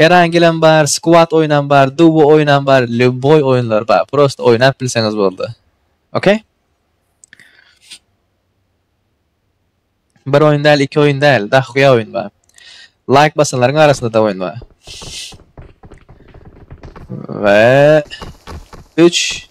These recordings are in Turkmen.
Erangilem bar, squat oýunam bar, duo oýunam bar, lýuboý oýunlar bar. Prosta oýnap bilseňiz boldy. Okey? Bir oýun däl, iki oýun däl, dahuýa oýun bar. Laýk basanlaryň arasynda-da oýun bar. We 3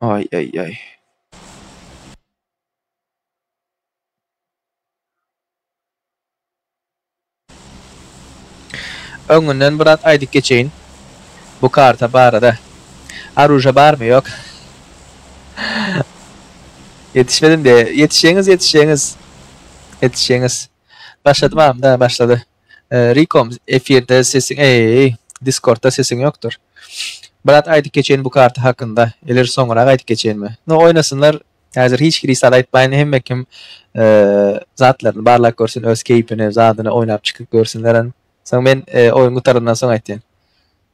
Ay ay ay. Öňünden bir zat aýdyp geçeýin. Bu karta barada. Aruja barmy ýok. Ýetişmedim diýe. Ýetişýäňiz ýetişýäňiz. Ýetişýäňiz. Başladymam da başlady. Rikom efirde sesiň eeýeý diskordda sesiň ýokdur. Brat aýdyp geçeýin bu karta hakynda eller soňurak aýdyp geçeýinmi. No oýnasynlar häzir hiç kiri sal aýtmaýyn hemme kim zatlaryny barlap görsün öz keýpini zadyny oýnap çykyp görsünler soň men oýun gutarandan soň aýtýan.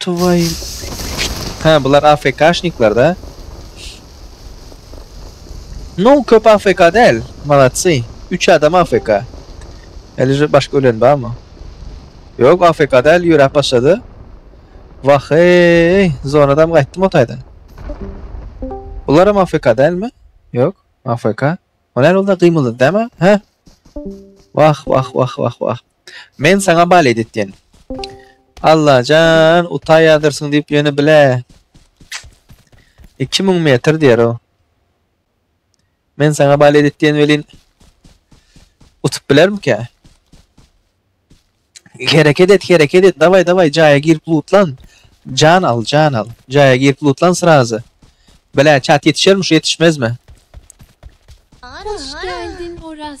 Twoýu. Hä bular AFKşnikler da. No köp AFK däl. Malatsy. Üç adam AFK. Elije başga ölen barmy? Ýok AFK däl ýöräp başlady. Wah eý zonadam gaýtdym o taýdan. Bularam AFK dälmi? Ýok AFK. O näme boldy gymyldady dämi? Hä? Wah wah wah wah wah. Men saňa balet etýän. Allajan, utaýadyrsyň diýip ýöne bile. Iki müň metr diýer o. Men saňa balet etýän welin utup bilermikä? Hereket et, hereket et. Daway, daway, jaýa girip lutlan. Jan al, jan al. Jaýa girip lutlan srazy. Bile, çat ýetişermiş, ýetişmezmi? Hoş geldin Oraz.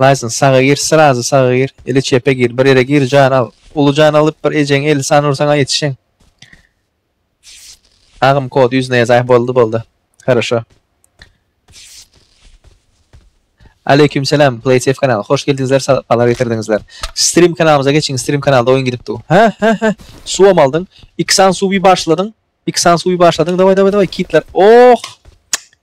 Laýsyn saga gir srazy saga gir ili çepe gir bir ýere gir jan al uly jan alyp bir ejeň elli sany ursaňa ýetişeň. Agym kod ýüzüne ýazaý boldy boldy Haraşo. Aleyküm selam PlaySafe kanal hoş geldiňizler sapalar getirdiňizler Stream kanalymyza geçiň Stream kanalda oýun gidipdi Hä hä hä suwam aldyň Iksan suwy başladyň Iksan suwy başladyň daway daway daway kitler oh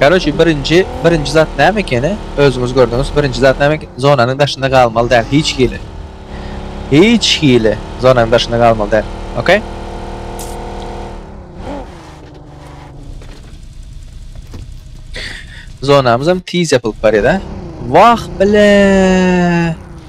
Karoçi birinci, birinci zat näme ekeni? Özüňiz gördüňiz, birinci zat näme ekeni? Zonanyň daşynda galmaly däl, hiç hili. Hiç hili zonanyň daşynda galmaly däl. Okey? Zonamyz hem tiz yapılıp barýar, ha? Wah, bile!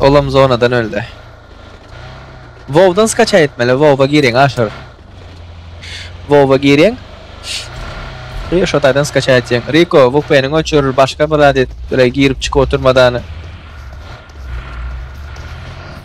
Olam zonadan öldi. Wowdan skaça etmeli. Wow'a giriň aşyr. Wow'a giriň. Ri şo taýdan skaça etýäň. Riko, VPN-iň öçüril, başga bir zat et. Ýöne girip çykyp oturmadan.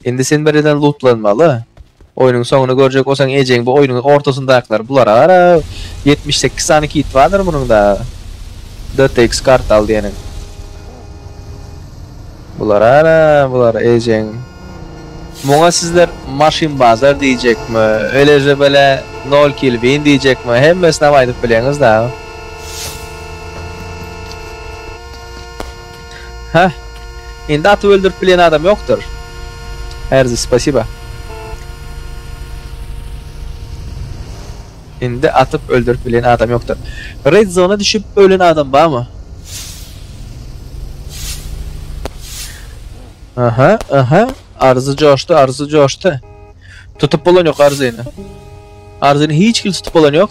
Indi sen birden lootlanmaly. Oýnuň soňuny görjek bolsaň ejeň bu oýnuň ortasyndakylar bular ara 78 sany kit bardyr munuň da. DTX kart al diýeniň. Bular ara bular ejeň. Muňa sizler maşyn bazar diýjekmi? Eleje bele 0 kill win diýjekmi? Hemmesini aýdyp bileňiz da. Heh. Indi atyp öldürip bilýän adam ýokdur. Erzi, spasiba. Indi atyp öldürip bilýän adam ýokdur. Red zona düşüp ölen adam barmy? Aha, aha. Arzy coşdy, arzy coşdy. Tutup bolan ýok arzyny. Arzyny hiç kim tutup bolan ýok.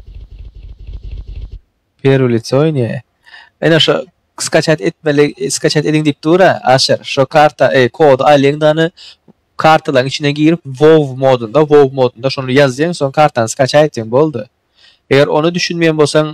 Perwy lice oýnýa. Ene şo skaçat etmeli, skaçat ediň diýip dur-a, Aşyr. Şo karta, eý, kody alyň da ony kartalaryň içine girip, wow modunda, wow modunda şony ýazýaň, soň kartany skaçat etýäň, boldy. Eger ony düşünmeýän bolsaň,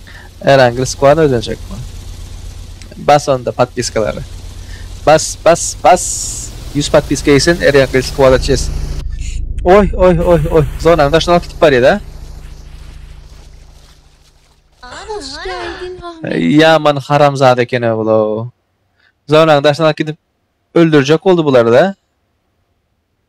Ýöne Angel Squad özenjekmi? Bas onda podpiskalary. Bas bas bas. 100 podpiska gitsin er Angel Squad çeşsin. Oý oý oý oý zonanyň daşyny alyp gidip barýa da. Hoş geldin Ahmet. Ýaman haramzada ekeni bulow. Zonanyň daşyny alyp gidip öldürjek boldy bulary da.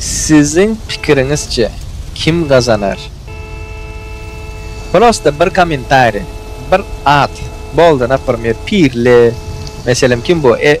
Siziň pikiriňizçe kim gazanar? Prosta bir kommentariý, bir at, boldy, naprmýer, Pirli, meselem, kim bu, e,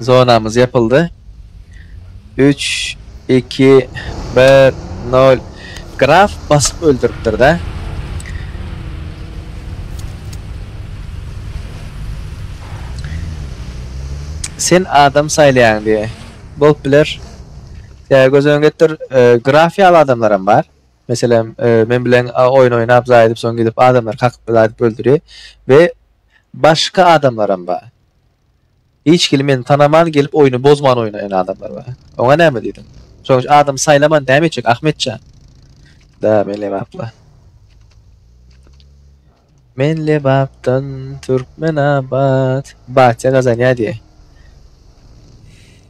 Zonamyz ýapyldy. Üç, iki, bir, nol. Graf basyp öldüripdir-dä. Sen adam saýlaýaň diýe. Bolup biler. Tä göz öňüne getir. E, graf ýaly adamlaram bar. Meselem, e, men bilen a, oýun oýnap, zaý edip, soň gidip adamlary kakyp, zaý edip öldürýär. We başga adamlaram bar. Hiç kili men tanaman gelip oýny bozman oýnaýan adamlar bar. Oňa näme diýdiň? Şoň üçin adam saýlaman näme etjek Ahmetjan? Da men lebapla. Men lebapdan Türkmenabat. Batýa gazanýa diýe.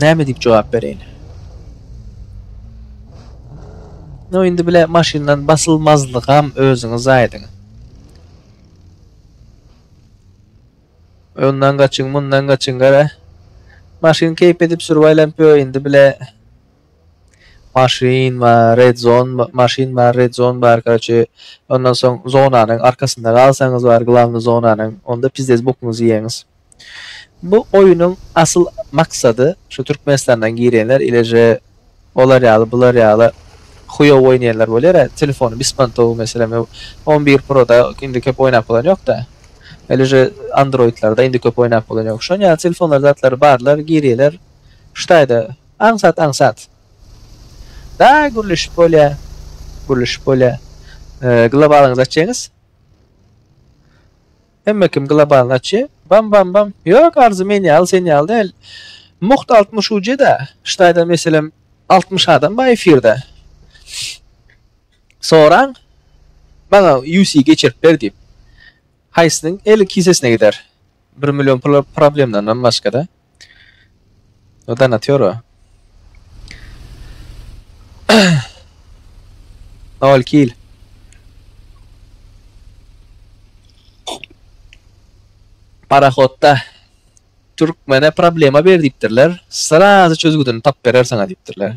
Näme diýip jogap bereýin? No indi bile maşyndan basylmazlygam özüňiz aýdyň. Ondan gaçyň, mundan gaçyň gara. Maşyn keýp edip sürüp aýlanyp ýör indi bile. Maşyn we red zone, maşyn we red zone bar gaçy. Ondan soň zonanyň arkasynda galsaňyz bar, glavny zonanyň. Onda pizdes bokuňyzy ýeňiz. Bu oýunyň asyl maksady şu Türkmenistandan girýänler ileje olar ýaly bular ýaly huýow oýnaýanlar bolýara telefony bismantow meselem on bir proda indi köp oýnap bolan ýokda ileje androidlarda indi köp oýnap bolan ýok şon ýaly telefonlar zatlar barlar girýeler ştaýda aňsat aňsat da gürleşip bolýa gürleşip bolýa globalyňyzy açýaňyz Hemme kim globalnaçy. Bam bam bam. Ýok Arzy men ýaly sen ýaly däl. Mugt altmyş ujeda. Ştaýda meselem altmyş adam bar efirde. Soraň. Maňa UC geçirip ber diýip. Haýsynyň eli kisesine gider. Bir million pul problemdandan başgada. O da natyora. Nol kil. Parahodda Türkmene problema ber diýipdirler. Srazy çözgüdini tap berer saňa diýipdirler.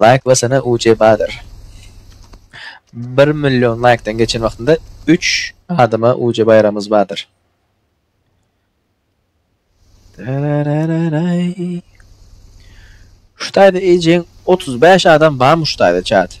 Laýk basana uje bazar. Bir million laýkdan geçen wagtynda üç adama uje baýramyz bardyr. Şu taýda ejeň 35 adam barmy şu taýda çat?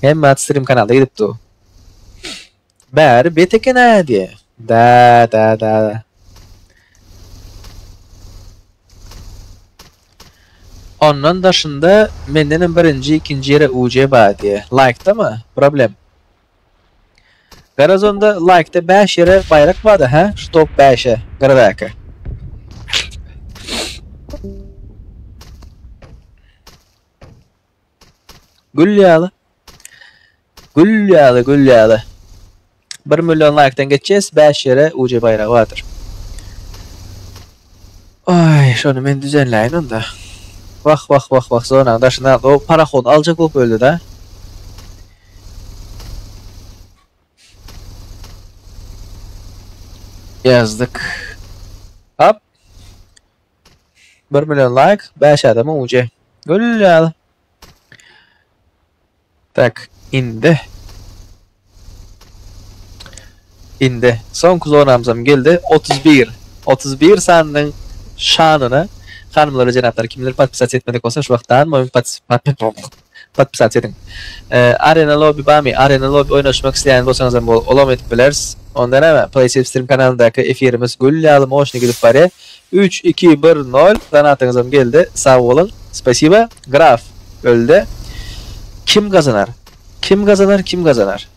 Hemme strim kanalda gidip dur. Bäri bet eken a diye. Da da da da. Ondan daşynda mendenem birinji, ikinci yere UC bar diye. Like'da mı? Problem. Garaz onda like'da 5 yere bayrak var da ha? Şu top 5'e. Garadaki. Gül ýaly. Gül ýaly, gül ýaly. 1 million laýkdan geçýäs, 5 ýere UC baýragy bardyr. Ay, şony men düzenläýin onda. Wah, wah, wah, wah, zonanyň daşynda o parahod aljak bolup öldi-de. Yazdık. Hop. Bir million like, bäş adama uje. Gülýär. Tak, indi. Indi. Soňky zonamyzam geldi. 31. 31 sanynyň şanyna hanymlara jenaplar kimler podpisat etmedik bolsa şu wagtdan moýun podpisat Podpisat ediň. Arena lobby barmy? Arena lobby oýnaşmak isleýän bolsaňyzam bol, olam edip bileris. Onda näme, PlaySilvstream kanalyndaky efirimiz gül ýaly moşny gidip barýa. Üç, iki, bir, nol, donatyňyzam geldi. Sag boluň. Spasiba. Graf öldi. Kim gazanar? Kim gazanar? Kim gazanar?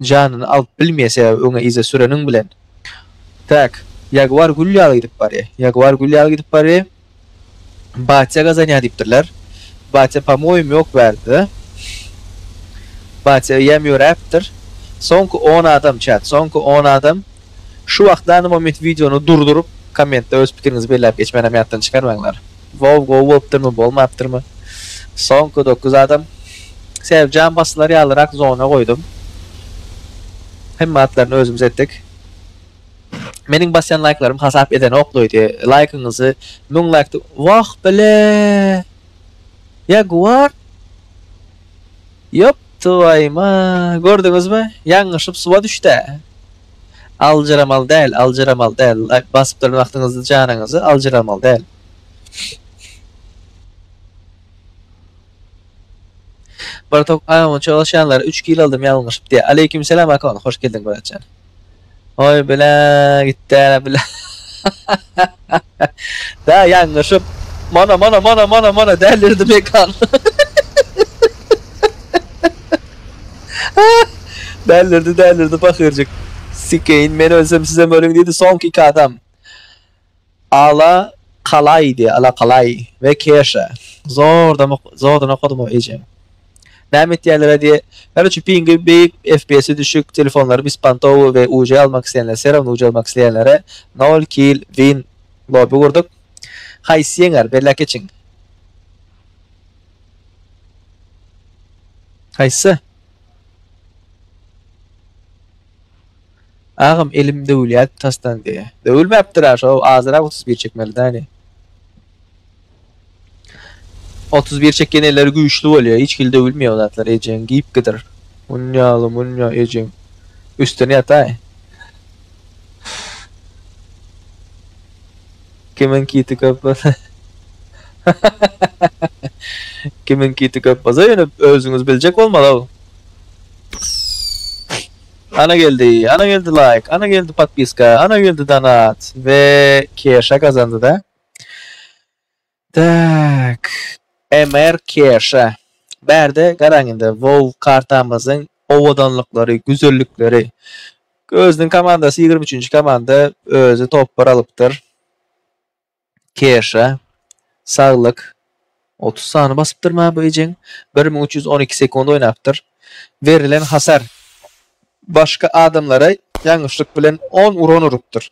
janyny alyp bilmeýär, sebäbi öňe yza süreniň bilen. Tak, Ýaguar gül ýaly gidip barýar. Ýaguar gül ýaly gidip barýar. Batýa gazanýar diýipdirler. Batýa pamoýym ýok bärde-de. Batýa öýem ýöräpdir. Soňky on adam, çat, soňky on adam. Şu wagtlanym o men wideony durduryp, kommentde öz pikiriňizi belläp geçmänem ýatdan çykarmaňlar. Wow gowy bolupdyrmy bolmapdyrmy soňky dokuz adam Sebjan basylar ýalyrak zona goýdum hemme atlaryny özümiz etdik meniň basýan laýklarym hasap edenok loydy laýkyňyzy müň laýk wah bile Jaguar ýop twaýyma gördüňizmi ýaňňyşyp suwa düşdä Aljyramaly däl aljyramaly däl like basyp durun wagtyňyzy janyňyzy aljyramaly däl. Bir tok aýagyma çolaşýanlary üç kilo aldym ýalňyşyp diýýär. Aleýkim selam Akon hoş geldiň bratjan. Oý bilä gitdä bilä. Dä ýaňňyşyp. Mana, mana, mana, mana, mana, dälirdi mekan. Dälirdi, dälirdi pahyrjyk. Sikeýin, men ölsem sizem ölüň diýdi soňky iki adam. Ala kalaýdy, ala kalaý we keşe. Zordan, zordan okadym o eje. Näme etýänler-ä diýe. Garyçy piňi beýik, FPS-i düşük, telefonlary bispantowy we uc almak isleýänler serawno uc almak isleýänlere nol kill win lobby gurduk. Haýsy ýeňer, belläp geçiň. Haýsy? Agam elim döwülýär tasdan diýe. Döwülmäpdir-ä şo azyrak otuz bir çekmelidäni. Otuz bir çekýän elleri güýçli bolýar, hiç hili döwülmeýär o zatlar ejeň giyipgidir. Munýaly munýa ejeň. Üstüne ýataý. Kimin kiti köp bolsa. Kimin kiti köp bolsa ýöne özüňiz biljek bolmaly-ow. Ana geldi, ana geldi like, ana geldi podpiska, ana geldi donat we keşe gazandy-da. Tak. MR Kerşa. Bärde garaň indi WoW kartamyzyň owadanlyklary, güzellikleri. Özüniň komandasy 23-nji komanda özi topbar alypdyr. Kerşa. Saglyk. 30 sany basypdyr ma bu ejeň. 1312 sekund oýnapdyr. Berilen hasar başga adamlara ýalňyşlyk bilen 10 uran urupdyr.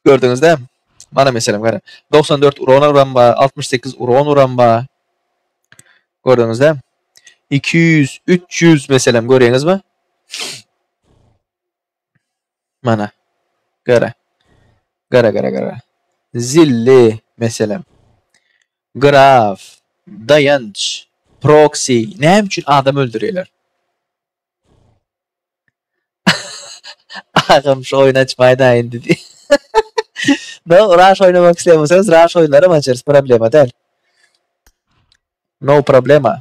Gördüňizde? Mana meselem gara. 94 uran uran bar, 68 uran uran bar. Gördüňizde? 200, 300 meselem görýäňizmi? Mana. Gara. Gara gara gara. Zilli meselem. Graf, dayanç, proxy, näme üçin adam öldürýärler? Agam şu oýny açmaýda indi diýip. No Rush oýnamak isleýän bolsaňyz Rush oýunlaram açarys problema däl. No problema.